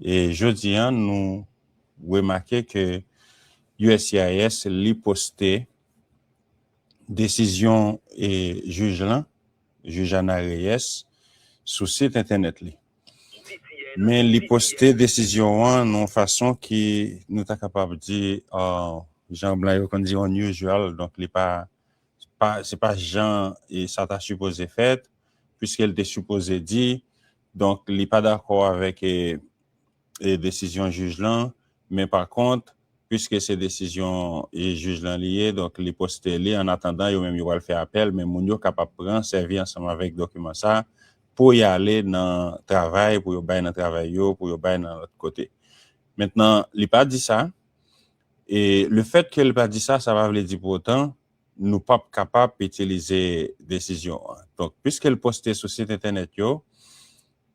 E jodi an nou remake ke uscis li poste desizyon jij lan. Jujana Reyes, sou sit entènèt li. Men li poste desizyon an nan yon fason ki nou ta kapab di jan blan yo konn di unusual, donk li pa se pa jan sa ta sipoze fèt, puiske li te sipoze di donk li pa dakò avèk desizyon jij lan men pa kont piske se desizyon jij lan li ye donk li poste li an atandan yo menm yo pral fè apèl men moun yo kapab pran sèvi ansanm avèk dokiman sa pou y ale nan travay pou yo bay nan travay yo pou yo bay nan lòt kote mentnan li pa di sa e lefèt ke li pa di sa sa pa vle di pou otan nou pap kapab itilize desizyon an donk piske l poste sou sit entènèt yo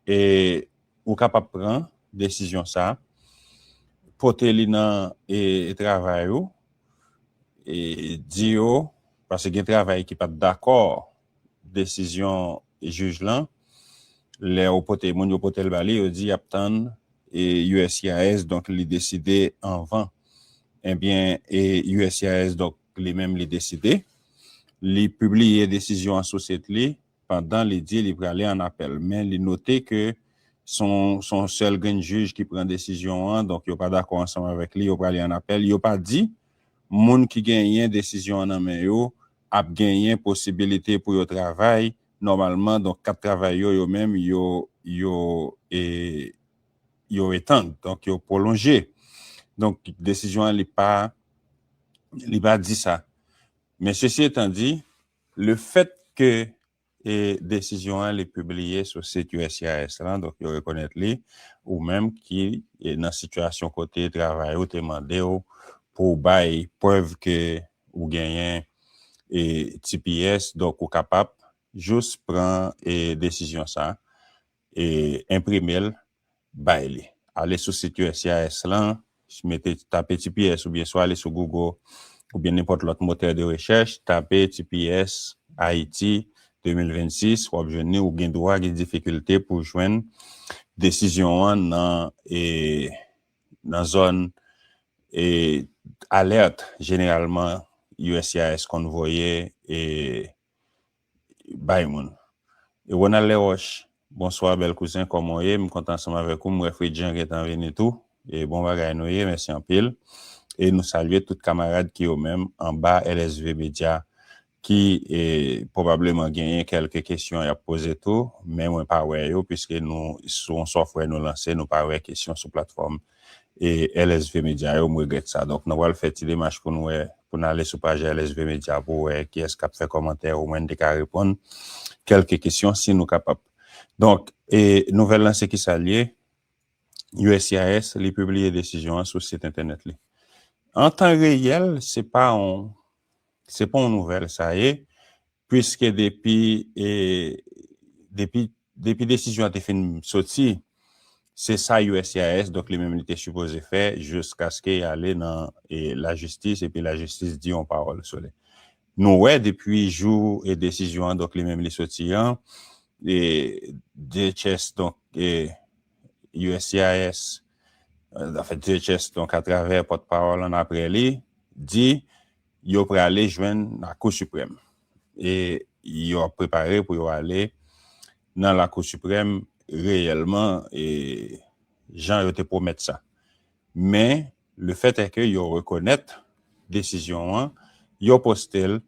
e. Ou kapab pran desizyon sa, pote li nan travay ou, di yo, paske gen travay ki pat dakò desizyon jij lan, lè ou pote, moun yo pote l ba li, yo di y ap tann uscis, donk li deside anvan. Ebyen uscis donk li menm li deside, li pibliye desizyon an sou sit li, pandan li di li prale an apèl men li note ke s on sèl grenn jij ki pran desizyon an donk yo pa dakò ansanm avèk li yo prale an apèl yo pa di moun ki genyen desizyon an nan men yo ap genyen posibilite pou yo travay nòmalman donk kat travay yo yo menm yo yo e yo etand donk yo pwolonje donk desizyon an li pa li pa di sa men sesi etan di. Le fèt ke e desizyon an li pibliye sou sit uscis lan, donk yo rekonèt li, ou menm ki e nan sitiyasyon kote travay ou te mande w pou w bay prèv ke ou genyen e tps, donk ou kapab jous pran e desizyon sa e enprime l bay li. Ale sou sit uscis lan, mete, tape tps oubyen swa ale sou Google oubyen nenpòt lòt motè de rechèch, tape tps Haiti 2026, wap jwenn li, ou gen dwa gen difikilte pou w jwenn desizyon an nan e nan zòn e alert jeneralman uscis konn voye e. bay moun. Ronald Leroche, Bonswa bèl kouzen kòman w ye? M kontan ansanm avèk ou, m wè Fredjean gentan vini tou. E bon bagay nou ye, mèsi anpil. E nou salye tout kamarad ki yo menm anba LSV Media ki pwobableman genyen kèlke kesyon y ap poze tou, men mwen pa wè yo piske nou sou yon sòfwè nou lanse nou pa wè kesyon sou platfòm e LSV media yo m regrèt sa donk nou pral fè ti demach pou n wè pou n ale sou paj LSV media pou wè kiyès k ap fè kòmantè omwen n te ka reponn kèlke kesyon si nou kapab donk e nouvèl lan se kisa l ye uscis li pibliye desizyon an sou sit entènèt li an tan reyèl se pa yon se pa yon nouvèl sa ye Puiske depi depi desizyon an te fin soti, se sa uscis, donk li menm li te sipoze fè jiskaske y ale nan lajistis epi lajistis di yon pawòl sou li. Nou wè depi jou desizyon an, donk li menm li soti an, DHS donk uscis anfèt DHS donk atravè pòtpawòl an aprè li di, Yo prale jwenn Lakou Siprèm e yo ap prepare pou yo ale nan Lakou Siprèm reyèlman jan yo te pwomèt sa. Men, lefètèke yo rekonèt desizyon an, yo poste l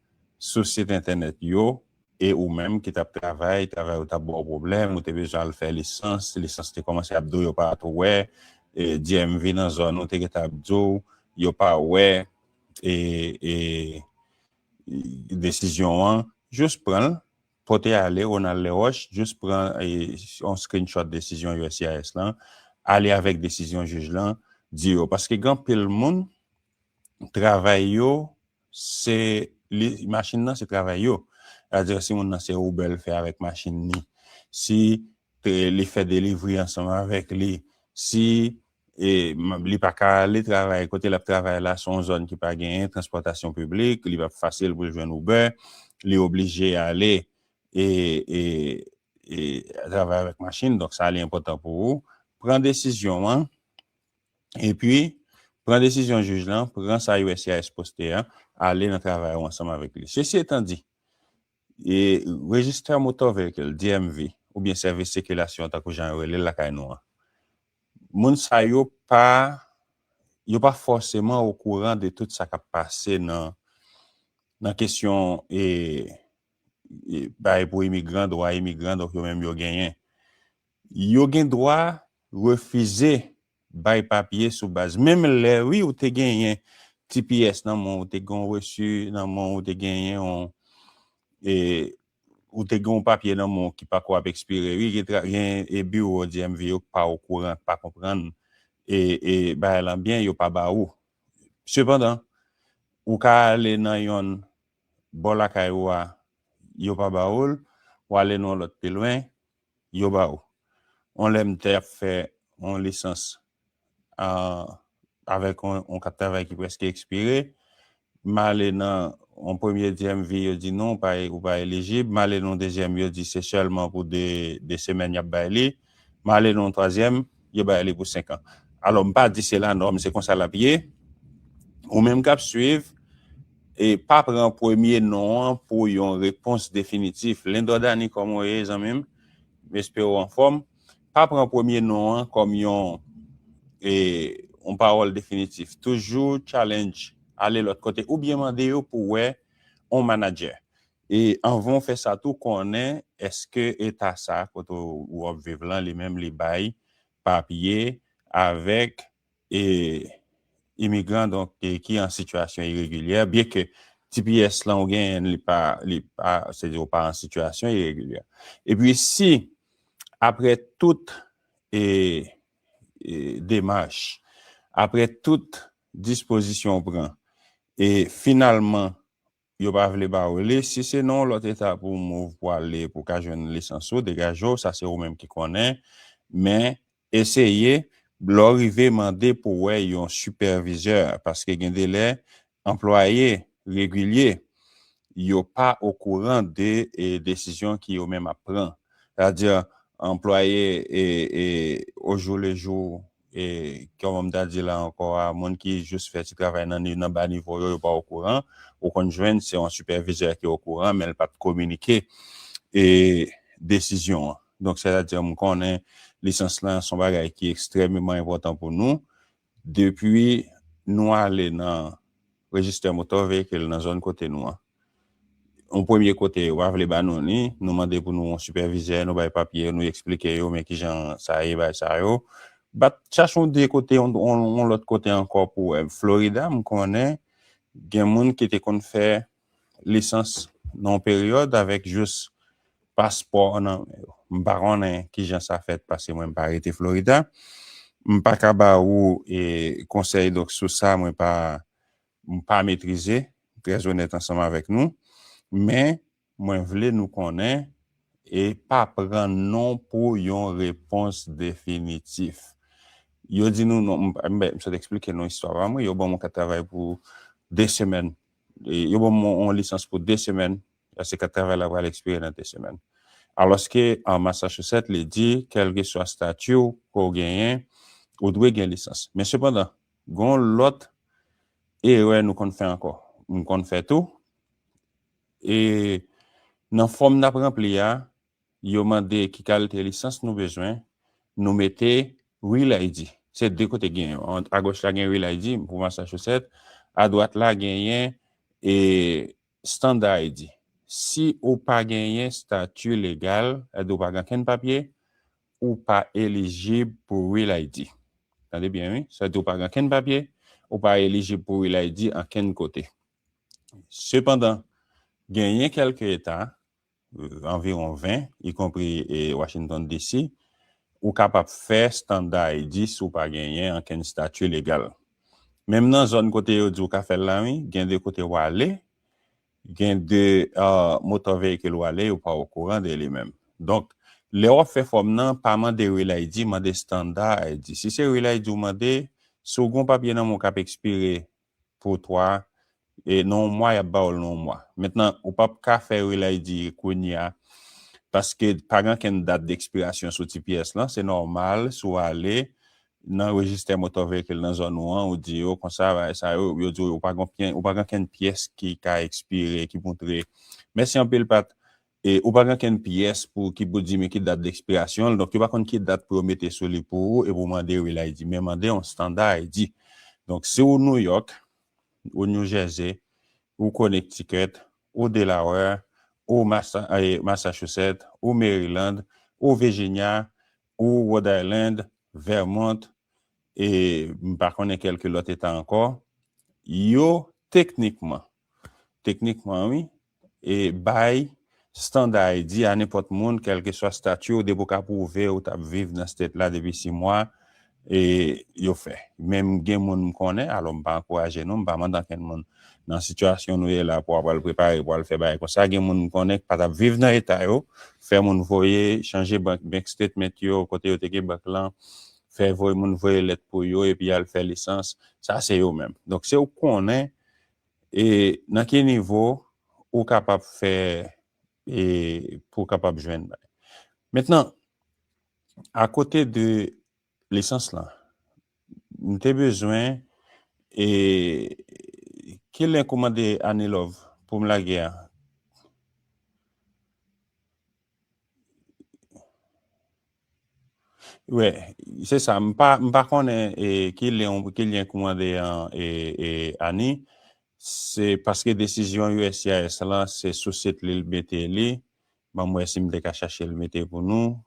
sou sit entènèt yo. E ou menm ki t ap travay, travay ou t ap ba w pwoblèm, ou te bezwen al fè lisans, lisans te kòmanse ap di w yo pa t wè, DMV nan zòn ou te gentan ap di w yo pa wè, desizyon an, jous pran l, pote ale Ronald Leroche, jous pran yon screenshot desizyon uscis lan, ale avèk desizyon jij lan, di yo. Paske gen anpil moun, travay yo, se, machin nan se travay yo. Sètadi si moun nan se Uber l fè avèk machin li, si li fè delivri ansanm avèk li, si E li pa ka ale travay. Kote l ap travay la se yon zòn ki pa genyen transpòtasyon piblik, li p ap fasil pou l jwenn Uber, li oblije ale e travay avèk machin. Donk sa li enpòtan pou ou pran desizyon an epi pran desizyon jij lan, pran sa uscis poste a, ale nan travay ou ansanm avèk li. Sesi etan di, Register Motor Vehicle, DMV, oubyen Sèvis Sikilasyon tankou jan yo rele l lakay nou an, Moun sa yo pa yo pa fòseman okouran de tout sa k ap pase nan nan kesyon e bay pou imigran, dwa imigran donk yo menm yo genyen. Yo gen dwa refize bay papye sou baz menm lè wi ou te genyen tps nan men w, ou te gen yon resu nan men w, ou te genyen yon e Ou te gen yon papye nan men w ki pako ap ekspire wi gen biwo DMV yo ki pa okouran ki pa konprann bagay lan byen yo pa ba ou sepandan ou ka ale nan yonn bò lakay ou a yo pa ba ou l ou ale nan yon lòt pi lwen yo ba ou yon lè m te ap fè yon lisans avèk yon kat travay ki prèske ekspire, m ale nan yon premye DMV yo di non ou pa elijib, m ale nan yon dezyèm yo di se sèlman pou 2 semèn y ap bay li, m ale nan yon twazyèm yo bay li pou 5 an. Alò m pa di se lanòm se konsa l ap ye, ou menm k ap suiv pa pran premye non an pou yon repons definitif. Lindor Dany kòman w ye zanmi m? M espere w anfòm. Pa pran premye non an kòm yon yon pawòl definitif. Toujou challenge, ale lòt kote oubyen mande yo pou wè yon manadjè. E anvan w fè sa tou konnen èske eta sa kote w ap viv lan li menm li bay papye avèk e imigran donk ki an sitiyasyon iregilyè byen ke tps lan ou genyen li pa li pa se di ou pa an sitiyasyon iregilyè epi si aprè tout e demach aprè tout dispozisyon ou pran e finalman Yo pa vle ba ou li. Si se nan yon lòt eta pou w move pou ale pou w ka jwenn lisans ou, degaje w, sa se ou menm ki konnen. Men, eseye, lè w rive mande pou w wè yon sipèvizè paske gen de lè anplwaye regilye yo pa okouran de desizyon ki yo menm ap pran. Sa vle di anplwaye ojou le jou E kòman m ta di la ankò a, moun ki jis fè ti travay nan ni nan ba nivo yo, yo pa okouran. Ou konn jwenn se yon sipèvizè ki okouran men l pa t kominike e desizyon an. Donk sètadi m konnen lisans lan s on bagay ki ekstrèmeman enpòtan pou nou. Depi nou ale nan rejistè motò veyikil nan zòn kote nou an, yon premye kote yo pa vle ba nou ni, nou mande pou nou yon sipèvizè, nou bay papye yo, nou esplike yo men kijan sa ye bay sa yo. Bat chache yon de kote, yon lòt kote ankò pou wè. Florida m konnen gen moun ki te konn fè lisans nan yon peryòd avèk jous paspò nan men yo. M pa konnen kijan sa fèt paske mwen m pa rete Florida. M pa ka ba ou konsèy donk sou sa mwen pa M pa metrize, trè onèt ansanm avèk nou, men mwen vle nou konnen e pa pran non pou yon repons definitif. Yo di nou non, m sot eksplike nou istwa pa m wi, yo ban m yon kat travay pou 2 semèn, yo ban m yon lisans pou 2 semèn, paske kat travay la pral ekspire nan 2 semèn. Alòske an Massachusetts li di kèlkeswa stati w ke w genyen, ou dwe gen lisans. Men sepandan, Gon lòt erè nou konn fè ankò. M konn fè tou. E nan fòm nap ranpli a, yo mande ki kalite lisans nou bezwen, nou mete Real ID. Se 2 kote gen yo. A goch la gen Real ID pou Massachusetts, a dwat la genyen e Standard ID. Si ou pa genyen stati legal, sa vle di ou pa gen ankenn papye, ou pa elijib pou Real ID. Tande byen wi, sa di ou pa gen okenn papye, ou pa elijib pou Real ID ankenn kote. Sepandan, genyen kèlke eta, anviwon 20, ikonpri Washington DC, ou kapab fè standa ID si w pa genyen ankenn stati legal. Menm nan zòn kote yo di ou ka fè l la wi, gen de kote w ale, Gen de motò veyikil w ale ou pa okouran de li menm. Donk, lè w ap fè fòm nan, pa mande Real ID, mande Standard ID. Si se Real ID ou mande, si w gen yon papye nan men w k ap ekspire pou 3, nan yon mwa y ap ba w l nan yon mwa. Mentnan, ou p ap ka fè Real ID kounye a paske pa gen ankenn dat dekspirasyon sou ti pyès lan. Se nòmal si w ale nan rejistè motò veyikil nan zòn ou an, ou di yo konsa bagay sa yo, yo di w ou pa gen oken, ou pa gen okenn pyès ki ka ekspire ki moutre, mèsi anpil Pat, e ou pa gen okenn pyès pou ki pou di men ki dat dekspirasyon l, donk yo pa konn ki dat pou yo mete sou li pou ou e pou w mande real ID, men mande yon standa ID. Donk si w Nouyòk, ou New Jersey, ou Connecticut, ou Delaware, ou Massa e Massachusetts, ou Maryland, ou Virginia, Ou Rhode Island, Vermont e m pa konnen kelke lòt eta ankò, yo teknikman, teknikman wi, e bay standa ID a nenpòt moun kelkeswa stati w depi w ka pwouve ou t ap viv nan state la depi 6 mwa e yo fè. Men gen moun m konnen, alò m pa ankouraje non, m pa mande ankenn moun nan sitiyasyon nou ye la pou apral prepare pou al fè bagay konsa gen moun m konnen k pa tap viv nan eta yo fè moun voye chanje bank bank statement yo kote yo te gen bank lan fè voye moun voye lèt pou yo epi yal fè lisans sa se yo menm donk se ou konnen e nan ki nivo ou kapab fè e pou kapab jwenn bagay mentnan akote de Lisans lan. M te bezwen e ki link ou mande Anilove poum lage an? Wi se sa m pa konnen ki link ou mande an Ani se paske desizyon uscis lan se sou sit li l mete li Banm wè sim te ka chachel mete pou nou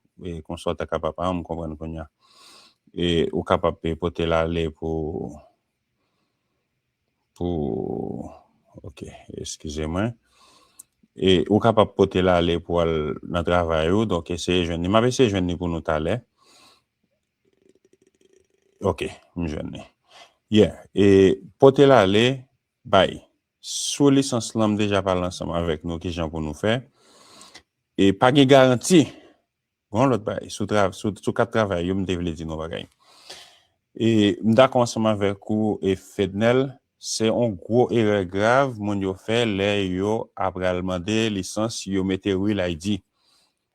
konsa ou ta kapab ah m konprann kounya ou kapab potel ale pou pou ok eskize mwen ou kapab potel ale pou al nan travay ou donk eseye jwenn li map eseye jwenn li pou nou talè ok m jwenn li yeah potel ale bay Sou lisans lan m deja pale ansanm avèk nou kijan pou nou fè. E pa gen garanti. Gon lòt bagay sou tra sou kat travay yo m te vle di nou yon bagay. E m dakò ansanm avèk ou Fednel, se yon gwo erè grav moun yo fè lè yo apral mande lisans yo mete real ID.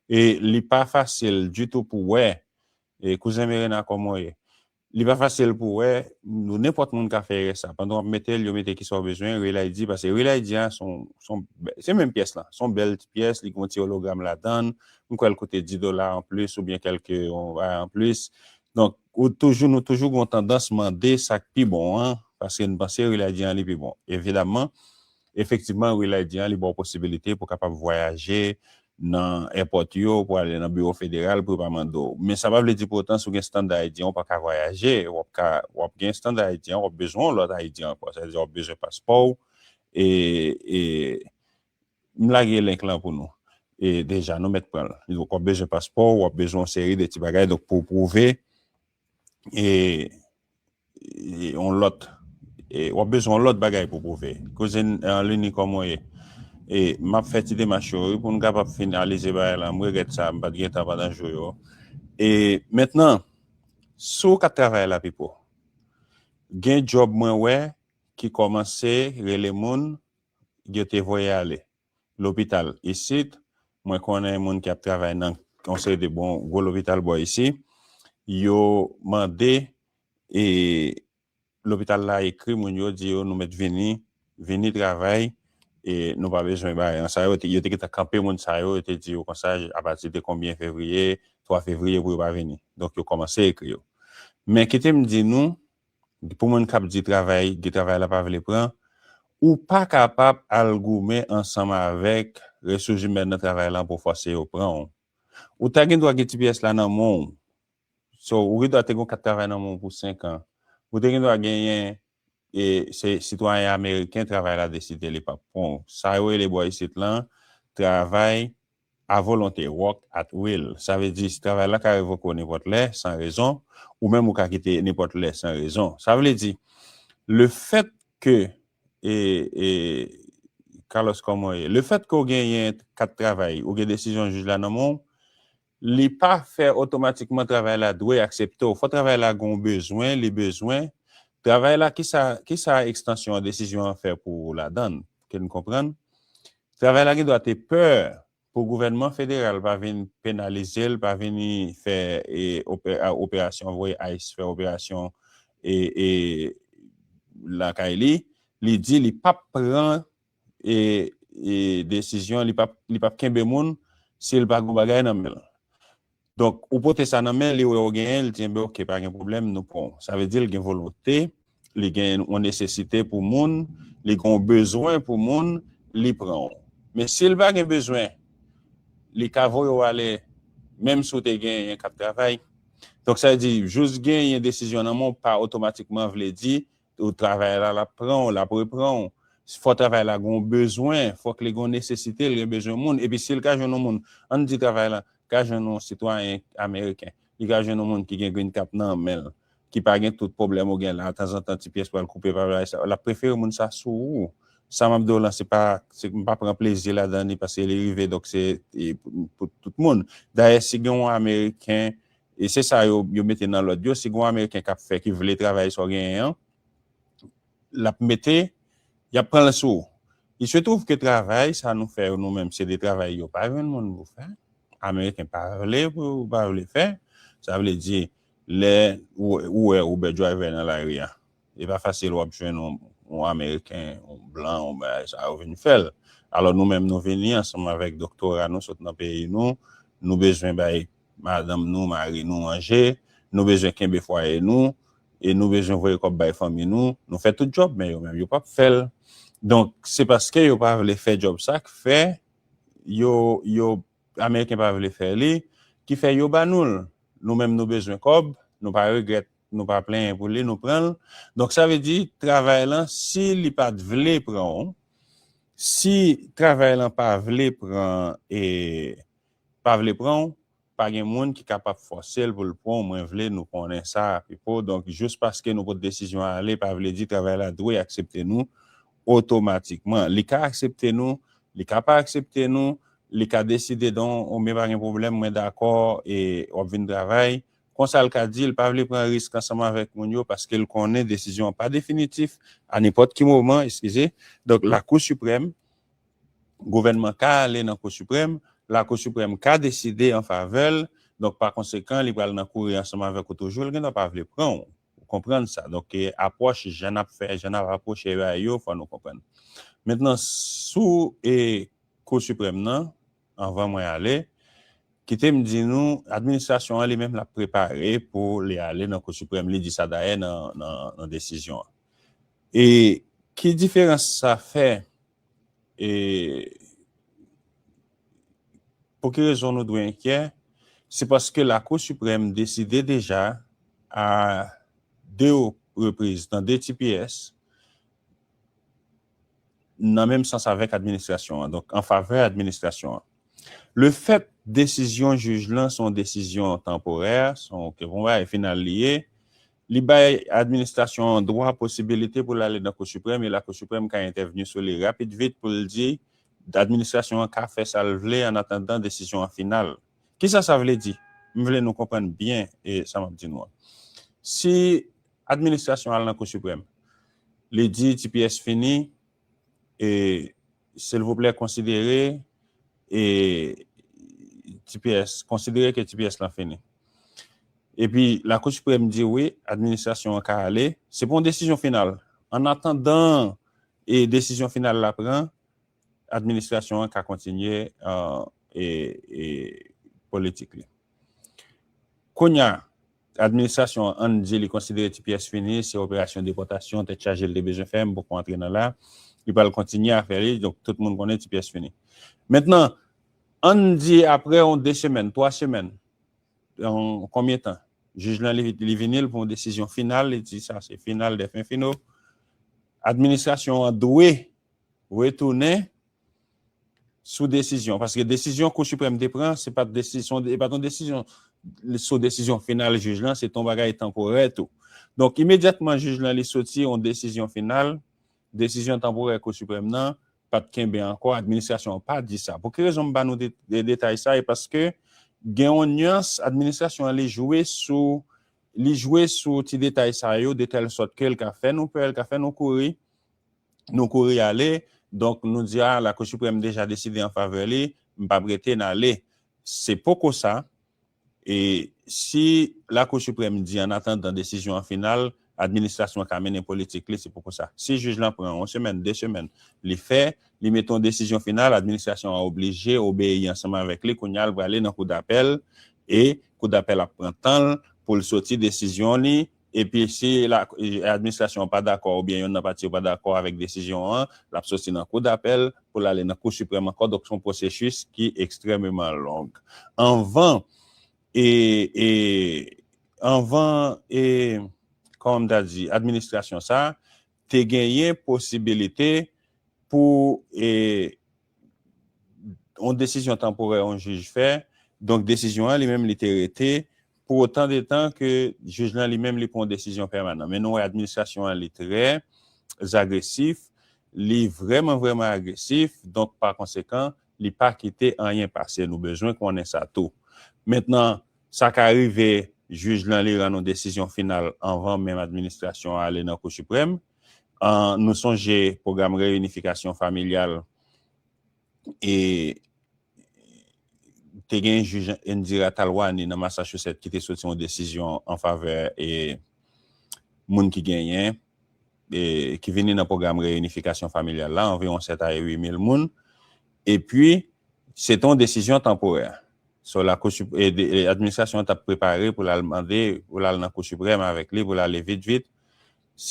E li pa fasil ditou pou wè. E kouzen Merena kòman w ye? Li pa fasil pou wè, nou nenpòt moun ka fè erè sa. Pandan wap metel yo mete kisa ou bezwen, Real ID pase Real ID a son son se menm pyès lan, son bèl ti pyès li gen yon ti ologram ladann, m kwèl koute 10 dola anplis oubyen kèlke yon bagay anplis. Donk ou toujou nou toujou gen yon tandans mande sak pi bon an paske n panse Real ID an li pi bon. Evidamman. Efektivman, Relay di an li ba w posibilite pou kapab vwayaje nan èpòt yo, pou ale nan biwo federal pou yo pa mande w. Men sa pa vle di pou otan si w gen Standard ID an w pa ka vwayaje. W ap ka, w ap gen Standard ID an, w ap bezwen yon lòt ID ankò. Sa vle di w ap bezwen paspò w e, e, m lage link lan pou nou e deja, nou mèt pran l. W ap bezwen paspò w, w ap bezwen yon seri de ti bagay donk pou w pwouve. E yon lòt e wap bezwen yon lòt bagay pou pwouve. Kouzin Lini kòman w ye? E map fè ti demach yo wi pou nou kapab finalize bagay lan. M regrèt sa m pat gen tan pandan jou yo. E mentnan si w ka travay la Pipo gen djòb mwen wè ki kòmanse rele moun yo te voye ale. lopital isit, mwen konnen moun ki ap travay nan yon seri de bon gwo lopital bò isi, yo mande e lopital la ekri moun yo di yo nou mèt vini, vini travay e nou pa bezwen bay an. Sa yo te, yo te gentan kanpe moun sa yo, yo te di yo konsa apati de konbyen fevriye, 3 fevriye pou yo pa vini. Donk yo kòmanse ekri yo. Men kite m di nou. Pou moun kap di travay di travay la pa vle pran, ou pa kapab al goumen ansanm avèk resouzimèn nan travay lan pou fòse yo pran w. Ou ta gen dwa gen tps la nan men w. So, ou gen dwa te gen yon kat travay nan men w pou 5 an. Ou te gen dwa genyen e se sitwayen ameriken travay la deside li pap pran w. Sa yo rele bò isit lan travay. A volonte, work at will, sa vle di travay la ka revoke w nenpòt lè, san rezon, ou menm ou ka kite nenpòt lè san rezon. Sa vle di, le fèt ke e, e, Carlos kòman w ye? Le fèt ke w genyen kat travay, ou gen desizyon jij la nan men w, li pa fè otomatikman travay la dwe aksepte w. Fò travay la gen w bezwen, li bezwen, travay la kisa, kisa ekstansyon desizyon an fè pou ou ladan l? ke n konprann, travay la gen dwa te pè pou gouvènman federal pa vin penalize l, pa vini fè operasyon, voye ice fè operasyon lakay li, li di li pa p pran desizyon, li pa p kenbe moun si l pa gen yon bagay nan men l. Donk, ou pote sa nan men li, wè ou genyen, li di, enben ok, pa gen pwoblèm, nou pran ou. Sa vle di li gen volonte, li gen yon nesesite pou moun, li gen yon bezwen pou moun, li pran ou. Men si li pa gen bezwen, li ka voye ou ale menm si ou te genyen k ap travay. Donk sa vle di, jis genyen desizyon nan men w pa otomatikman vle di Ou travay la, l ap pran ou, l ap repran ou. Fò travay la gen yon bezwen, fòk li gen yon nesesite, li gen bezwen moun. Epi si l ka jwenn yon moun, an n di travay la ka jwenn yon sitwayen ameriken, li ka jwenn yon moun ki gen green cap nan men l, ki pa gen tout pwoblèm ou gen la, tanzantan ti pyès pral koupe, pa bagay sa yo, l ap prefere moun sa sou ou. Sa m ap di w lan, se pa, m pa pran plezi ladan li paske li rive donk se pou tout moun. Dayè si gen yon ameriken E se sa yo yo mete nan lòd yo, si gon ameriken kap fè ki vle travay sa w genyen an, lap mete, yap pran l sou ou. Il se trouve ke travay sa nou fè yo nou menm se de travay yo pa jwenn moun pou fè, ameriken pa vle pou yo pa vle fè, sa vle di lè ou wè Uber driver nan lari a, Li pa fasil wap jwenn yon ameriken, yon blan, yon bagay sa yo vin fèl. Alò nou menm nou vini ansanm avèk doktora nou sot nan peyi nou, nou bezwen bay madanm nou, mari nou manje, nou bezwen kenbe fwaye nou, e nou bezwen voye kòb bay fanmi nou, nou fè tout djòb men yo menm yo pap fèl. Donk se paske yo pa vle fè djòb sa k fè yo yo ameriken pa vle fè li ki fè yo ba nou l. Nou menm nou bezwen kòb, nou pa regrèt. nou pa plenyen pou li nou pran l donk sa vle di travay lan si li pat vle pran w si travay lan pa vle pran e pa vle pran w pa gen moun ki kapab fòse l pou l pran w mwen vle nou konnen sa Pipo donk jous paske nou pot desizyon ale pa vle di travay la dwe aksepte nou otomatikman li ka aksepte nou li ka pa aksepte nou li ka deside donk ou men pa gen pwoblèm mwen dakò e w ap vin travay Konsa l ka di l pa vle pran risk ansanm avèk moun yo paske l konnen desizyon an pa definitif, a nenpòt ki moman, eskize, donk Lakou Siprèm, gouvènman ka ale nan Kou Siprèm, Lakou Siprèm ka deside an favè l, donk pa konsekan li pral nan kouri ansanm avèk ou toujou, l gen dwa pa vle pran w, ou konprann sa, donk apwòch jan n ap fè, jan n ap apwoche yo a yo fò nou konprann. Mentnan sou Kou Siprèm nan. Anvan mwen ale, kite m di nou, administrasyon an li menm l ap prepare pou li ale nan Kou Siprèm, li di sa dayè nan desizyon an. E ki diferans sa fè e pou ki rezon nou dwe enkyè? Se paske Lakou Siprèm deside deja a 2 repriz, nan 2 tps, nan menm sans avèk administrasyon an, donk an favè administrasyon an. Le fèt desizyon jij lan se yon desizyon tanporè, se yon bagay final li ye, li bay administrasyon an dwa, posibilite pou l ale nan Kou Siprèm e Lakou Siprèm ka entèvni sou li rapid vit pou l di administrasyon an ka fè sa l vle annatandan desizyon an final. Kisa sa vle di? M vle nou konprann byen sa m ap di nou an. Si Administrasyon al nan kou siprèm li di tps fini e silvouplè konsidere e tps konsidere ke tps lan fini epi lakou siprèm di wi administrasyon an ka ale se pou yon desizyon final an atandan e desizyon final la pran administrasyon an ka kontinye e e politik li kounya. Administrasyon an di li konsidere ti pyès fini, se operasyon depòtasyon tèt chaje l te bezwen fè, m poko antre nan la, li pral kontinye afè li, donk tout moun konnen ti pyès fini. Mentnan, ann di aprè yon 2 semèn, 3 semèn, yon konbyen tan, jij lan li vini l pou yon desizyon final, li di sa se final dè fen fino, administrasyon an dwe retounen, sou desizyon, paske desizyon Kou Siprèm te pran, se pa t yon desizyon sou desizyon final jij lan, se t yon bagay tanporè tou. Donk, imedyatman jij lan li soti yon desizyon final, desizyon tanporè Kou Siprèm nan pa t kenbe ankò, administrasyon an pa di sa. Pou ki rezon m ba nou detay sa, e paske gen yon nyans administrasyon an li jwe sou li jwe sou ti detay sa yo detèlsòt ke l ka fè nou pè, l ka fè nou kouri, Nou kouri ale, donk nou di a Lakou Siprèm deja deside an favè li, m pa p rete n ale. Se poko sa, e si Lakou Siprèm di an atandan desizyon an final, administrasyon an ka mennen politik li, se poko sa. Si jij lan pran yon semèn, de semèn, li fè, li mete yon desizyon final, administrasyon an oblije obeyi ansanm avèk li, kounye a l prale nan kou dapèl, e kou dapèl ap pran tan l pou l soti desizyon li, Epi si administrasyon an pa dakò oubyen yonn nan pati yo pa dakò avèk desizyon an, l ap soti nan kou dapèl pou l ale nan kou siprèm ankò. Donk se yon pwosesis ki ekstrèmeman long anvan e anvan e kòman m ta di administrasyon sa te genyen posibilite pou e yon desizyon tanporè yon jij fè, donk desizyon an li menm li te rete pou otan de tan ke jij lan li menm li pran yon desizyon pèmanan. Men nou wè administrasyon an li trè zagresif, li vrèman vrèman agresif, donk pa konsekan li pa kite anyen pase. Nou bezwen konnen sa tou. Mentnan, sa ka rive jij lan li rann yon desizyon final anvan menm administrasyon an ale nan Kou Siprèm, An nou sonje pwogram reyinifikasyon familyal e te gen jij Indira Talwani nan Massachusetts ki te soti yon desizyon an favè e moun ki genyen e ki vini nan pwogram reyinifikasyon familyal la anviwon 7 a 8 mil moun e pi se te yon desizyon tanporè so la kou e administrasyon an t ap prepare pou l al mande pou l al nan kou siprèm avèk li pou l ale vit vit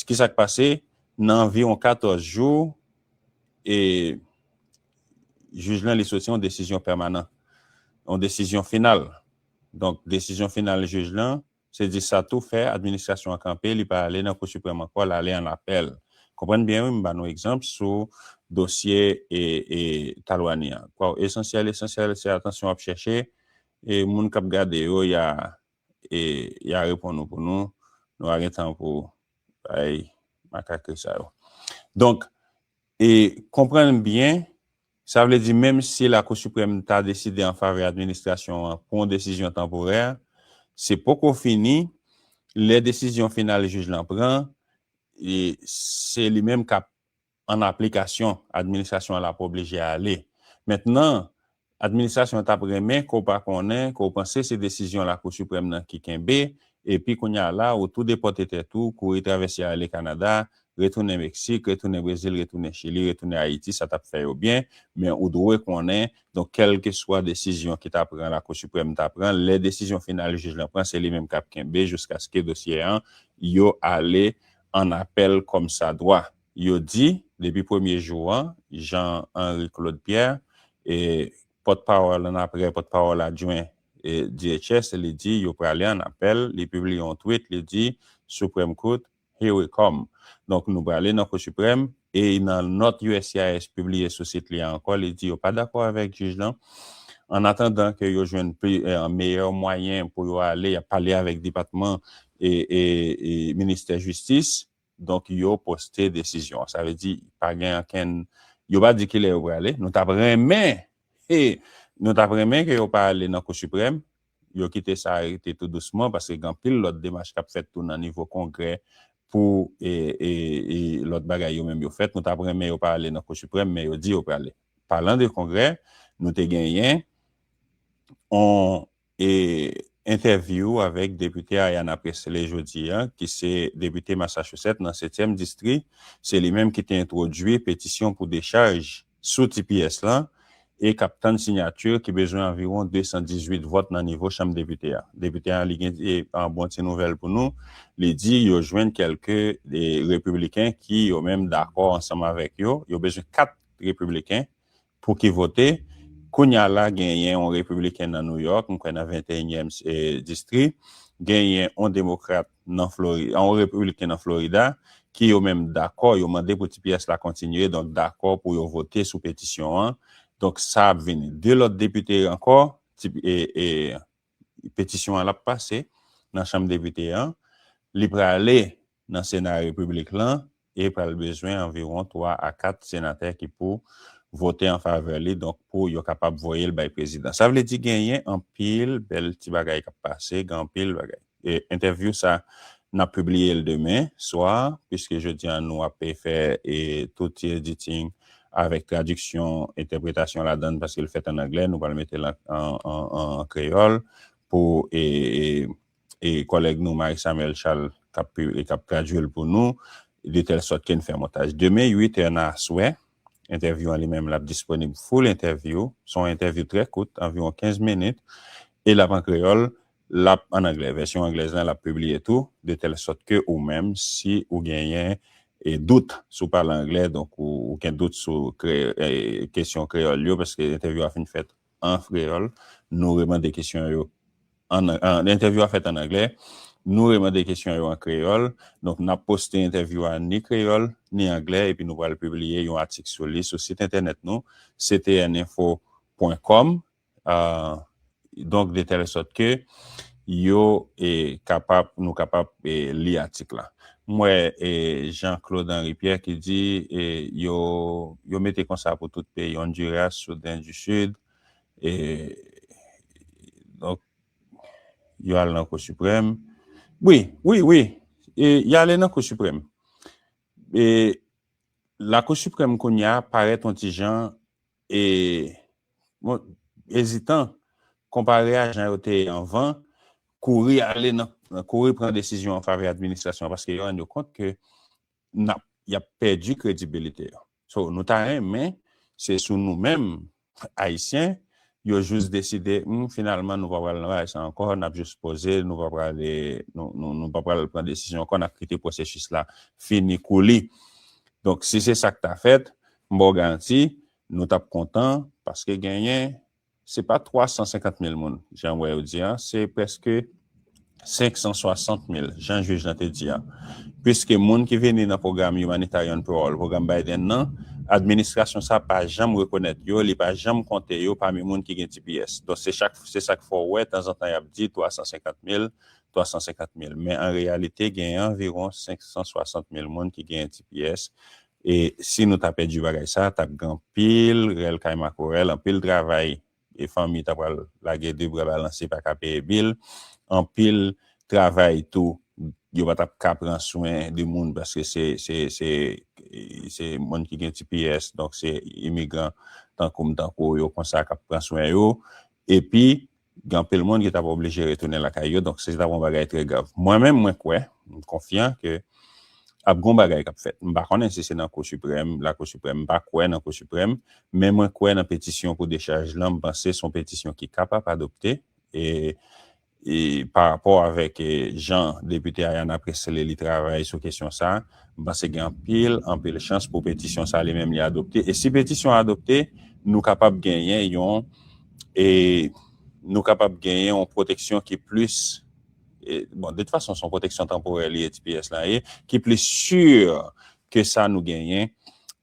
Ki sa k pase? Nan anviwon 14 jou, jij lan li soti yon desizyon pèmanan, yon desizyon final. Donk, desizyon final jij lan, se di sa tou fè administrasyon an kanpe, li pa ale nan Kou Siprèm ankò, l ale an apèl. Konprann byen wi, m ba nou egzanp sou dosye Talwani an. Esansyèl, esansyèl, se atansyon w ap chèche, e moun k ap gade yo, y a. E ya reponn nou pou nou, nou pa gen tan pou bay makakri sa yo. Donk, e konprann byen, sa vle di menm si Lakou Siprèm ta deside an favè administrasyon an pou yon desizyon tanporè, se poko fini, lè desizyon final jij lan pran, e se li menm k ap an aplikasyon, administrasyon an la pa oblije ale. Mentnan, administrasyon an t ap renmen ke w pa konnen ke w panse se desizyon Lakou Siprèm nan ki kenbe, epi kounye a la, ou tou depòte tèt ou, kouri travèse ale Kanada, retounen Meksik, retounen Brezil, retounen Chili, retounen Ayiti, sa t ap fè yo byen, men ou dwe konnen, donk kèlkeswa desizyon ki ta pran Lakou Siprèm ta pran, lè desizyon final jij lan pran, se li menm k ap kenbe jiskaske dosye an yo ale an apèl kòmsadwa. Yo di, depi premye jou an, Jean Henry Claude Pierre, pòtpawòl an apre pòtpawòl adjwen DHS, li di yo prale an apèl, li pibliye yon tweet, li di, Supreme Court, here we come. Donk nou prale nan Kou Siprèm, e nan nòt uscis pibliye sou sit li a ankò, li di yo pa dakò avèk jij lan, an atandan ke yo jwenn meyè mwayen pou yo ale, y ap pale avèk depatman e ministè jistis Donk yo poste desizyon an. Sa vle di pa gen ankenn, yo pa di kilè yo prale. Nou tap renmen, he, nou tap renmen ke yo pa ale nan Kou Siprèm, yo kite sa rete tou dousman paske gen anpil lòt demach kap fèt tou nan nivo Kongrè pou lòt bagay yo menm yo fèt. Nou tap renmen yo pa ale nan Kou Siprèm men yo di yo prale. Palan de Kongrè, nou te genyen yon. E entèvyou avèk depite Ayanna Pressley jodi a, ki se depite Massachusetts nan setyèm distri, se li menm ki te entwodui petisyon pou dechaj sou tps lan e k ap tann sinyati ki bezwen anviwon 218 vòt nan nivo chanm depite a. Depite a li gen yon bon ti nouvèl pou nou, li di yo jwenn kèlke repibliken ki yo menm dakò ansanm avèk yo, yo bezwen 4 repibliken Pou ki vote? Kounya la genyen on repibliken nan New York, m kwè nan 21 nyèm distri, genyen on demokrat nan Florida, on repibliken nan Florida, ki yo menm dakò, yo mande pou tps la kontinye, donk dakò pou yo vote sou petisyon an, donk sa ap vin 2 lòt depite ankò, petisyon an l ap pase nan chanm depite an, li prale Nan Sena Repiblik lan, e pral bezwen anviwon 3 a 4 senatè ki pou vote an favè li donk pou yo kapab voye l bay prezidan. Sa vle di genyen anpil bèl ti bagay k ap pase, gen anpil bagay. Entèvyou sa n ap pibliye l demen swa piske jodi an nou ap fè tout ti editing avèk tradiksyon, entèpretasyon ladan l paske l fèt an anglè nou pral mete l an kreyòl pou e kòlèg nou Marie Samuel Charles k ap pi e k ap tradui l pou nou de tèl sòt ke n fè montaj. Demen 8 è nan aswè, entèvyou an li menm l ap disponib full entèvyou, s on entèvyou trè kout, anviwon 15 minit, e l ap an kreyòl, l ap an anglè, vèsyon anglèz lan l ap pibliye tou, de tèl sòt ke ou menm si ou genyen e dout si w pale anglè, donk ou gen dout sou kre e kesyon kreyòl yo, paske entèvyou a fin fèt an kreyòl, nou remande kesyon yo an, entèvyou a fèt an anglè, nou remande kesyon yo an kreyòl, donk n ap poste entèvyou a ni kreyòl, ni anglè epi nou pral pibliye yon atik sou li sou sit entènèt nou, ctninfo pwen kòm, donk de tèl sòt ke yo kapab nou kapab li atik la. M wè Jean Claude Henry Pierre ki di yo yo mete konsa pou tout peyi Honduras, Soudan du Sud e donk yo al nan kou siprèm wi wi wi y ale nan kou siprèm e lakou siprèm kounya parèt yon ti jan E mwen ezitan, konpare a jan yo te ye anvan, kouri ale nan, kouri pran desizyon an favè administrasyon an paske yo rann yo kont ke n ap, y ap pèdi kredibilite yo. So, nou ta renmen se sou nou menm Ayisyen yo jous deside, humm finalman nou pa pral nan bagay sa ankò, n ap jous poze, nou pa pral e, nou pa pral pran desizyon ankò, n ap kite pwosesis la fini kou li. Donk si se sa k ta fèt, M ba w garanti, nou t ap kontan, paske genyen, se pa 350 mil moun, jan m wè yo di an, se prèske 560 mil, jan jij lan te di an. Piske moun ki vini nan pwogram Humanitarian Parole, pwogram Biden nan, administrasyon sa pa janm rekonèt yo, li pa janm konte yo pami moun ki gen tps. Donk se chak, se sa k fè w wè tanzantan y ap di 350 mil, 350 mil. Men an reyalite genyen anviwon 560 mil moun ki genyen tps E si nou ta pèdi bagay sa tap gen anpil rèl kay makorèl, anpil travay e fanmi ta pral lage 2 bra balanse pa ka peye bil, anpil travay tou yo pa tap ka pran swen de moun paske se se se moun ki gen tps donk se imigran tankou m tankou w yo konsa kap pran swen yo epi gen anpil moun ki t ap oblije retounen lakay yo, donk se t ap yon bagay trè grav. Mwen menm, mwen kwè, m konfyan ke ap gen yon bagay k ap fèt. M pa konnen si se nan Kou Siprèm, Lakou Siprèm, m pa kwè nan Kou Siprèm, men mwen kwè nan petisyon pou dechaj lan, m panse se yon petisyon ki kapab adopte, e pa rapò avèk jan depite Ayanna Pressley li travay sou kesyon sa, m panse gen anpil, anpil chans pou petisyon sa li menm li adopte, e si petisyon an adopte, nou kapab genyen yon. E nou kapab genyen yon pwoteksyon ki plis, bon de tout fason se yon pwoteksyon tanporè li ye tps lan ye, ki plis sur ke sa nou genyen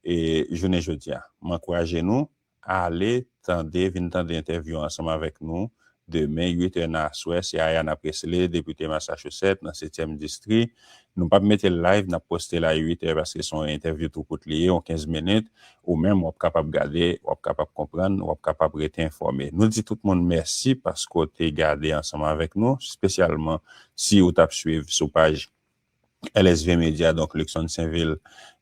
jounen jodi a. M ankouraje nou ale tande, vin tande entèvyou ansanm avèk nou demen 8 è nan aswè, se Ayanna Pressley, depite Massachusetts nan setyèm distri, Nou pap metel live nap postel a 8 è paske son entèvyou tou kout li ye yon 15 minit ou menm wap kapab gade wap kapab konprann wap kapab rete enfòme nou di tout moun mèsi paske w te gade ansanm avèk nou spesyalman si ou tap swiv sou paj LSV media donk Luckson Sainvil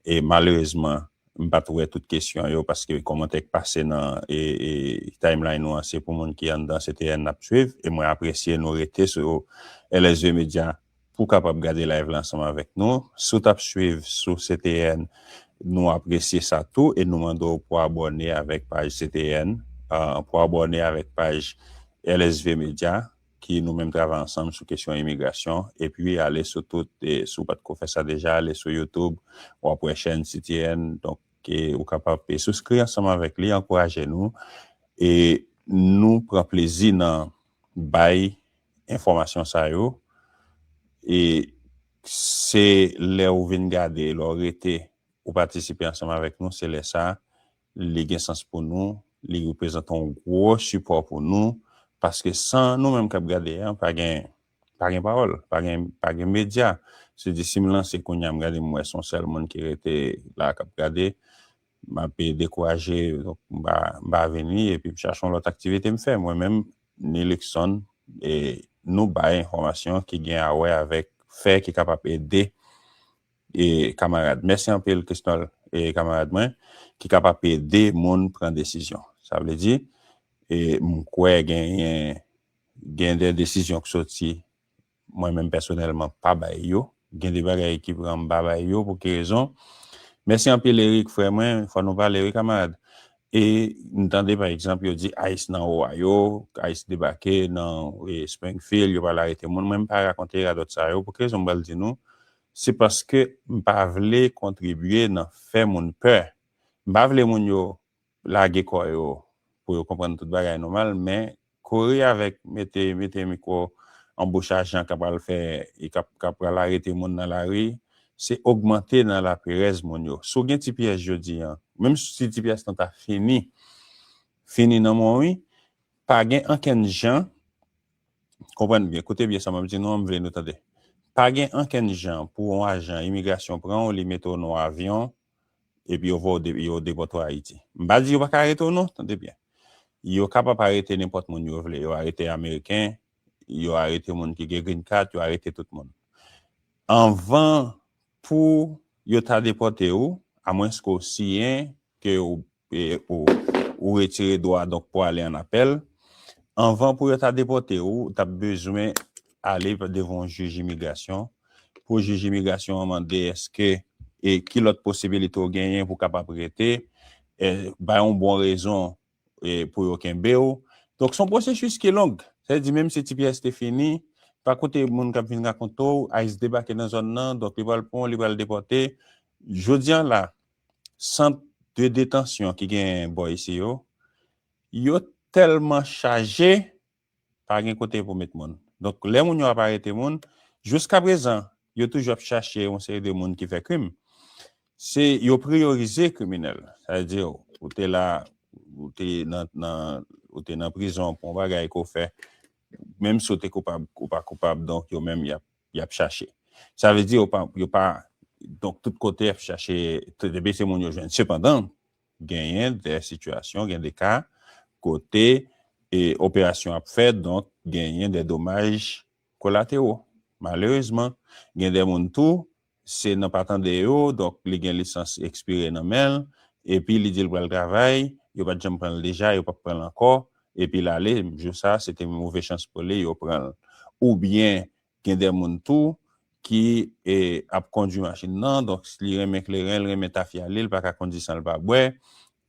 e malerezman m pat wè tout kesyon yo paske kòmantè k pase nan timeline nou an se pou moun ki anndan se TN nap swiv e mwen apresye nou rete sou LSV media Pou kapab gade live la ansanm avèk nou. Si w t ap swiv sou CTN, nou apresye sa tou e nou mande w pou abòne avèk paj CTN, pou abòne avèk paj LSV Media ki nou menm travay ansanm sou kesyon imigrasyon. Epi ale sou tout, si w pa t ko fè sa deja, ale sou YouTube, w ap wè chèn CTN. Donk, ou kapab souskri ansanm avèk li, ankouraje nou e nou pran plezi nan bay. enfòmasyon sa yo e se lè ou vin gade, lè w rete ou patisipe ansanm avèk nou se lè sa li gen sans pou nou, li reprezante yon gwo sipò pou nou paske san nou menm k ap gade a pa gen pa gen pawòl, pa gen pa gen medya se di si m lanse kounya m gade m wè se yon sèl moun ki rete la k ap gade m ap dekouraje donk m pa m pa vini epi m chache yon lòt aktivite m fè mwen menm Ni Luckson, nou bay enfòmasyon ki gen a wè avèk fè ki kapab ede kamarad. Mèsi anpil Christnol kamarad mwen ki kapab ede moun pran desizyon. Sa vle di m kwè genyen gen de desizyon k soti Mwen menm pèsonèlman pa bay yo. Gen de bagay ki pran m pa bay yo pou ki rezon. Mèsi anpil Eric frè mwen, fò nou pale wi kamarad. E m tande pa egzanp yo di ice nan Ohio, ice debake nan Springfield, yo pral arete moun. Mwen m pa rakonte radòt sa yo. Pou ki rezon m pral di nou? Se paske m pa vle kontribye nan fè moun pè. M pa vle moun yo lage kò yo pou yo konprann tout bagay nòmal men kouri avèk mete mete mikwo an bouch ajan ka pral fè ka pral arete moun nan lari se ogmante nan laperèz moun yo si w gen ti pyès jodi an menm si ti pyès lan ta fini fini nan men w wi pa gen ankenn jan konprann byen koute byen sa m ap di nou an m vle nou tande pa gen ankenn jan pou yon ajan imigrasyon pran w li mete w nan yon avyon epi yo voye w yo depòte w Ayiti. M pa di yo pa ka arete w non, tande byen. Yo kapab arete nenpòt moun yo vle. Yo arete Ameriken, yo arete moun ki gen green card, yo arete tout moun. Anvan pou yo ta depòte ou, amwenske w siyen ke w Ou retire dwa donk pou ale an apèl. Anvan pou yo ta depòte ou, ou tap bezwen ale devan yon jij imigrasyon. Pou jij imigrasyon an mande eske e ki lòt posibilite ou genyen pou kapab rete. Bay yon bon rezon pou yo kenbe ou. Donk son pwosesis ki long. Sa vle di menm si tps te fini, pa koute moun kap vin rakonte w, ice debake nan zòn nan, donk li pral pran w, li pral depòte. Jodi an la. sant de detansyon ki gen bò isi yo, yo tèlman chaje, pa gen kote pou met moun. Donk, lè moun yo ap arete moun, jiskaprezan, yo toujou ap chache yon seri de moun ki fè krim. Se yo priyorize kriminèl. Sa vle di, ou te la, ou te nan, nan, ou te nan prizon pou yon bagay ke w fè, menm si w te koupab ou pa koupab, donk yo menm y ap. yap chache. Sa vle di yo pa, yo pa, donk tout kote yap chache, depi se moun yo jwenn. Sepandan, genyen de sitiyasyon, gen de ka, kote e operasyon ap fèt, donk genyen de domaj kolatero. Malerezman, gen de moun tou Se nan pa tande yo, donk li gen lisans ekspire nan men l, epi li di l pral travay, yo pa t janm pran l deja, yo p ap pran l ankò, epi l ale, jou sa a se te move chans pou li, yo pran l. Oubyen gen de moun tou ki ap kondui machin nan, donk li renmen kleren, li renmen tafya li, li pa ka kondi san l pa bwè,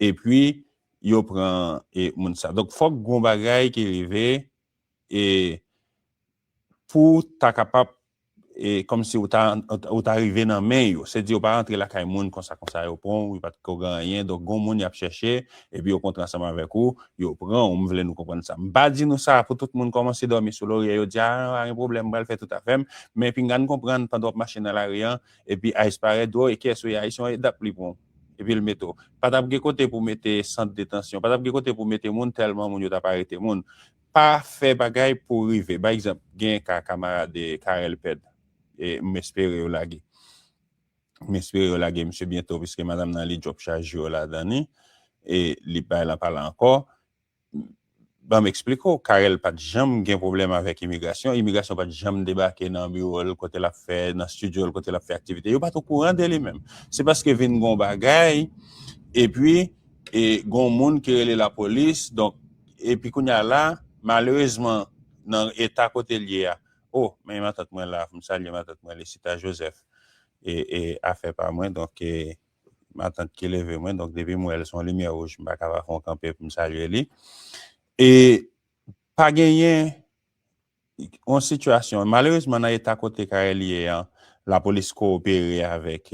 epi yo pran moun sa. Donk fòk gen yon bagay ki rive pou ta kapab Kòmsi ou ta rive nan men yo. Se di yo pa rantre lakay moun konsa konsa. Yo pran w, yo pa t ko gen anyen. Donk gon moun y ap chèche, epi yo kontre ansanm avèk ou, yo pran w. M vle nou konprann sa. M pa di nou sa pou tout moun kòmanse dòmi sou lorye yo, di a an, pa gen pwoblèm, m pral fè tout afè m. Men pinga n konprann pandan w ap mache nan lari an, epi ice parèt, di w, e kiyès ou ye? Ayisyen w ye? Dap li pran w. Epi l mete w. Pa t ap gen kote pou mete sant detansyon. Pa t ap gen kote pou mete moun tèlman moun yo t ap arete moun. Pa fè bagay pou w rive. Bay egzanp, genyen ka kamarad Carel Pèd, m espere yo lage. M espere yo lage misye byento piske madanm nan li djòp chaj yo ladan li e li bay lan pa la ankò. Ban m esplike w, Carel pa t janm gen pwoblèm avèk imigrasyon, imigrasyon pa t janm debake nan biwo l kote l ap fè, nan stidyo l kote l ap fè aktivite, yo pa t okouran de li menm. Se paske vin gen yon bagay epi gen yon moun ki rele lapolis donk. Epi kounye a la, malerezman nan eta kote l ye a, o, men matant mwen la, fò m salye matant mwen Lesita Joseph, e afè pa mwen, donk e matant ki leve mwen, donk depi m wè l s on limyè wouj m pa ka pa fè on kanpe pou m salye li, e pa genyen. yon sitiyasyon, malerezman nan eta kote Carel ye an, lapolis kowopere avèk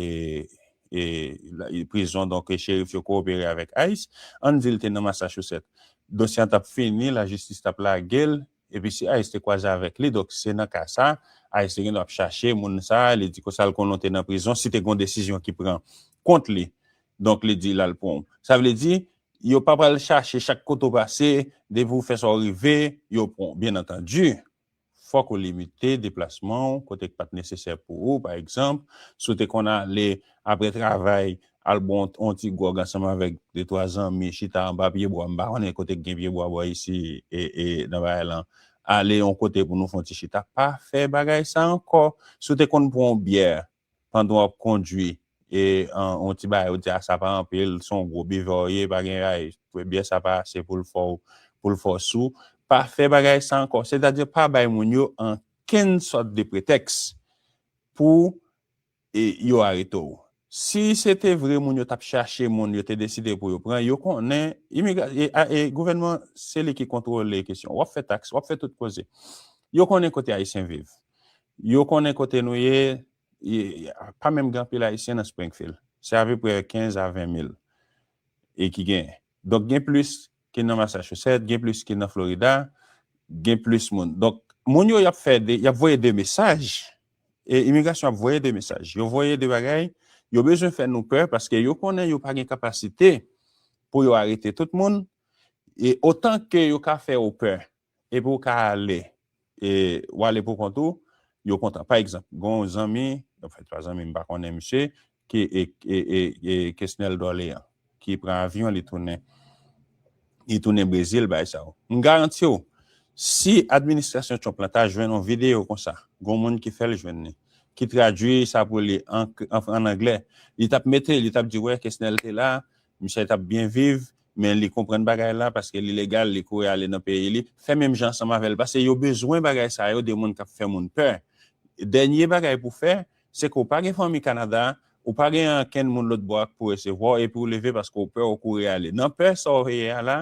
prizon, donk cherif yo kowopere avèk ice, ann di l te nan Massachusetts, dosye an t ap fini, lajistis t ap lage l, epi si ice te kwaze avèk li, donk se nan ka sa, ice te gen dwa ap chache moun sa, li di konsa l konnen w te nan prizon, si te gen yon desizyon ki pran kont li, donk li di l al pran w. Sa vle di, Yo pa pral chache chak kote ou pase, depi ou fè sa ou rive, yo pran w. Byen antandi, fòk ou limite deplasman ou kote k pa t nesesè pou ou, pa egzanp, si w te konn ale apre travay al bwè yon ti gwòg ansanm avèk detwa zanmi chita anba pyebwa, m pa konnen kote k gen pyebwa bò isi nan bagay lan, ale yon kote pou nou fè yon ti chita, pa fè bagay sa ankò. Si w te konn pran yon byè Pandan wap kondwi e yon ti bagay ou di a sa pa anpil, si w yon gwo bivè w ye, pa gen raj, byè sa pa ase pou l fè w, pou l fè w sou, pa fè bagay sa ankò. Sètadi pa bay moun yo ankenn sòt de pretèks pou yo arete w. Si se te vre moun yo t ap chache moun yo te deside pou yo pran, yo konnen gouvènman se li ki kontwole kesyon. Wap fè taks, wap fè tout koze. Yo konnen kote ayisyen viv. Yo konnen kote nou ye, pa menm gen anpil Ayisyen nan Springfield. Se apeprè 15 a 20 mil e ki genyen. Donk gen plis ki nan Massachusetts, gen plis ki nan Florida, gen plis moun. Donk moun yo y ap fè, y ap voye de mesaj, imigrasyon ap voye de mesaj. Yo voye de bagay, yo bezwen fè nou pè paske yo konnen yo pa gen kapasite pou yo arete tout moun e otan ke yo ka fè ou pè. Epi ou ka ale e ou ale pou kont ou, yo kontan. Pa egzanp, gen yon zanmi, anfen se pa zanmi m pa konnen misye, ki e Kesnel Dorlean ki pran avyon li tounen, li tounen Brezil bay sa yo. M garanti w, si administrasyon Trump lan ta jwenn yon videyo konsa, gen yon moun ki fè l jwenn li, ki tradui sa pou li an anglè, li t ap mete, li t ap di wè Kesnel te la, misye t ap byen viv, Men li konprann bagay la paske li legal li kouri ale nan peyi li fè menm jan ansanm avèl paske yo bezwen bagay sa yo de moun kap fè moun pè dènye bagay pou fè se ke w pa gen fanmi Canada ou pa gen ankenn moun lòt bò a k pou resevwa w epi w leve paske w pè w kouri ale nan pè sa w ye a la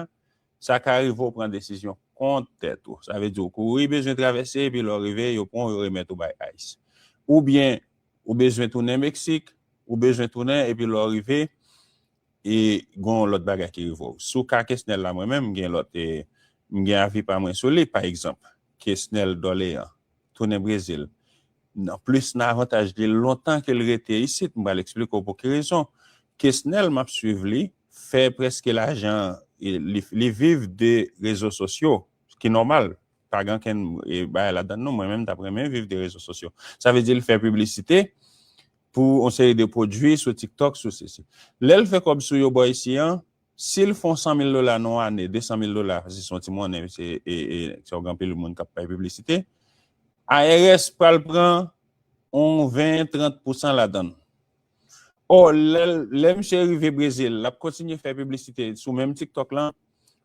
sa ka rive w pran desizyon kont tèt ou sa vle di w kouri bezwen travèse epi lè w rive yo pran w yo remèt ou bay ice oubyen ou bezwen tounen Mexique ou bezwen tounen epi lè w rive E gon yon lòt bagay ki rive w. Sou ka Kesnel la mwen menm m gen lòt e m gen avi pa mwen sou li. Pa egzanp, Kesnel Dorlean tounen Brezil nan plis nan avantaj li lontan ke l rete isit. M pral eksplike w pou ki rezon. Kesnel m ap swiv li fè prèske lajan li viv de rezo sosyo ki nòmal pa gen ankenn bagay ladan l non. Mwen menm m t ap renmen viv de rezo sosyo. Sa vle di l fè piblisite Pou yon seri de pwodwi sou tiktok sou sisi. Lèl fè kòb sou yo bò isi an, sil fon 100 mil dola nan yon ane, 200 mil dola, sisi se yon ti monnen se yon gran pil moun kap fè piblisite, IRS pral pran yon 20, 30 pousan ladann. Ò lè misye rive brezil lap kontinye fè piblisite sou menm tiktok lan,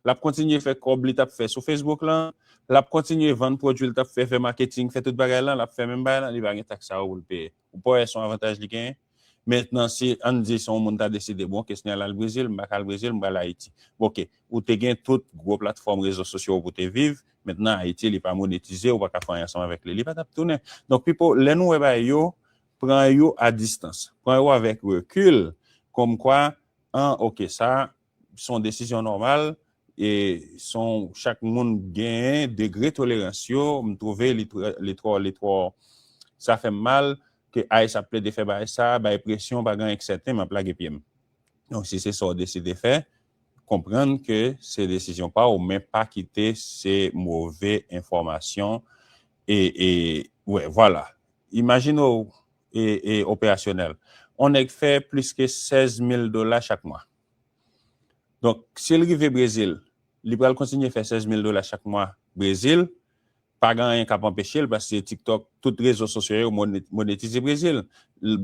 lap kontinye fè kòb li tap fè sou facebook lan, lap kontinye vann pwodwil tap fè, fè maketing, fè tout bagay lan, lap fè menm bagay lan, li pa gen taks sa yo poul peye. Ou pa wè son avantaj li genyen? Mentnan si ann di si yon moun ta deside bon kesn al al Brezil, m pa ka al Brezil, m pral Ayiti. Ok, ou te gen tout gwo platfòm rezo sosyo pou te viv, mentnan Ayiti li pa monetize, ou pa ka fè anyen ansanm avèk li, li pa tap tounen. Donk pipo, lè nou wè bagay yo, pran yo a distans. Pran yo avèk rekil, kòmkwa, an ok sa Se yon desizyon nòmal e se yon chak moun genyen degre tolerans yo. M twouve li twò, li twò, li twò, sa fè m mal ke ice ap plede fè bagay sa, bay presyon pa gen anyen k sèten m ap lage pye m. Donk si se sa w deside fè, konprann ke se desizyon pa w men pa kite se move enfòmasyon e, e, wè, vwala. Imajine w e, e, operasyonèl. On nèg fè plis ke 16 mil dola chak mwa. Donk, si l rive Brezil, li pral kontinye fè 16 mil dola chak mwa Brezil, pa gen anyen k ap anpeche l paske TikTok, tout rezo sosyo yo monetize Brezil.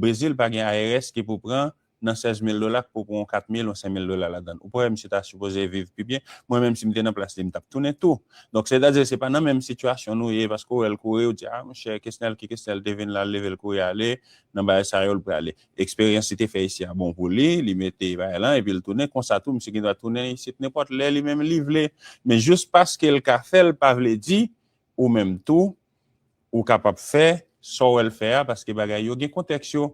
Brezil pa gen IRS ki pou pran nan 16 mil dola k pou pran yon 4 mil, yon 5 mil dola ladan l. Ou pa wè misye ta sipoze viv pi byen? Mwen menm si m te nan plas li m t ap tounen tou. Donk, sètadi se pa nan menm sitiyasyon nou ye paske ou wè l kouri ou di a monchè Kesnel ki Kesnel te vin la l leve l kouri ale nan bagay sa yo l prale. Eksperyans li te fè isi a bon pou li, li mete bagay lan epi li tounen, konsa tou misye gen dwa tounen isit nenpòt lè li menm li vle. Men jis paske l ka fè l pa vle di ou menm tou ou kapab fè sa w wè l fè a paske bagay yo gen kontèks yo.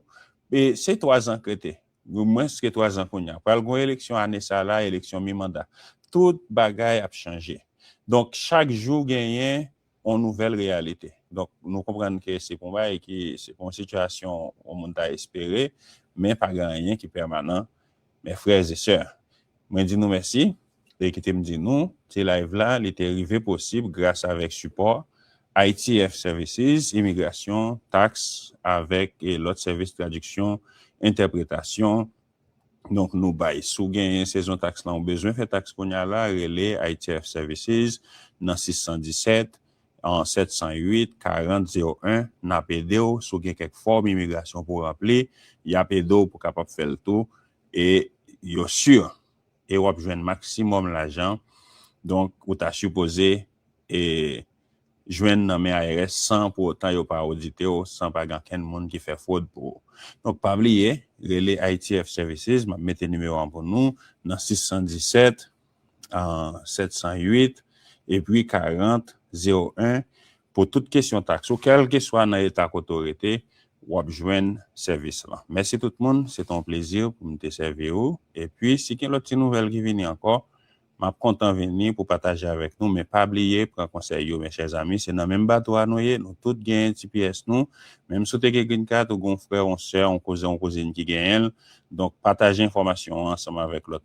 E se twazan k rete, gen mwens ke twazan kounye a. Pral gen yon eleksyon ane sa a la, eleksyon mi manda. Tout bagay ap chanje. Donk chak jou genyen yon nouvèl reyalite. Donk, nou konprann ke se pa yon bagay ki, se pa yon sitiyasyon yon moun ta espere, men pa gen anyen ki pèmanan, mes frères et sœurs. Mwen di nou mèsi, e kite m di nou, ti live la, li te rive posib gras avèk sipò ITF Services, Imigrasyon, Taks, avèk lòt sèvis tradiksyon, entèpretasyon, donk nou bay. Si w genyen sezon taks lan ou bezwen fè taks kounya la, rele ITF Services nan 617 708 40 01, n ap ede w, si w gen kèk fòm imigrasyon pou w ranpli, y ap ede w pou w kapab fè l tou e yo sur e w ap jwenn maksimòm lajan donk ou ta sipoze e. jwenn nan men IRS san pou otan yo pa odite w san pa gen ankenn moun ki fè fwod pou ou. Donk pa bliye rele ITF Services, map mete nimewo an pou nou, nan 617 708 epi 40 01 pou tout kesyon taks ou kèlkeswa nan eta kote w rete wap jwenn sèvis lan. Mèsi tout moun, se te yon plezi pou m te sèvi ou epi si gen lòt ti nouvèl ki vini ankò Map kontan vini pou pataje avèk nou men pa bliye pran konsèy yo mes chers amis se nan menm bato a nou ye nou tout genyen ti pyès nou menm si w te gen green card ou gen yon frè yon sè yon kouzen yon kouzin ki genyen l donk pataje enfòmasyon an ansanm avèk lòt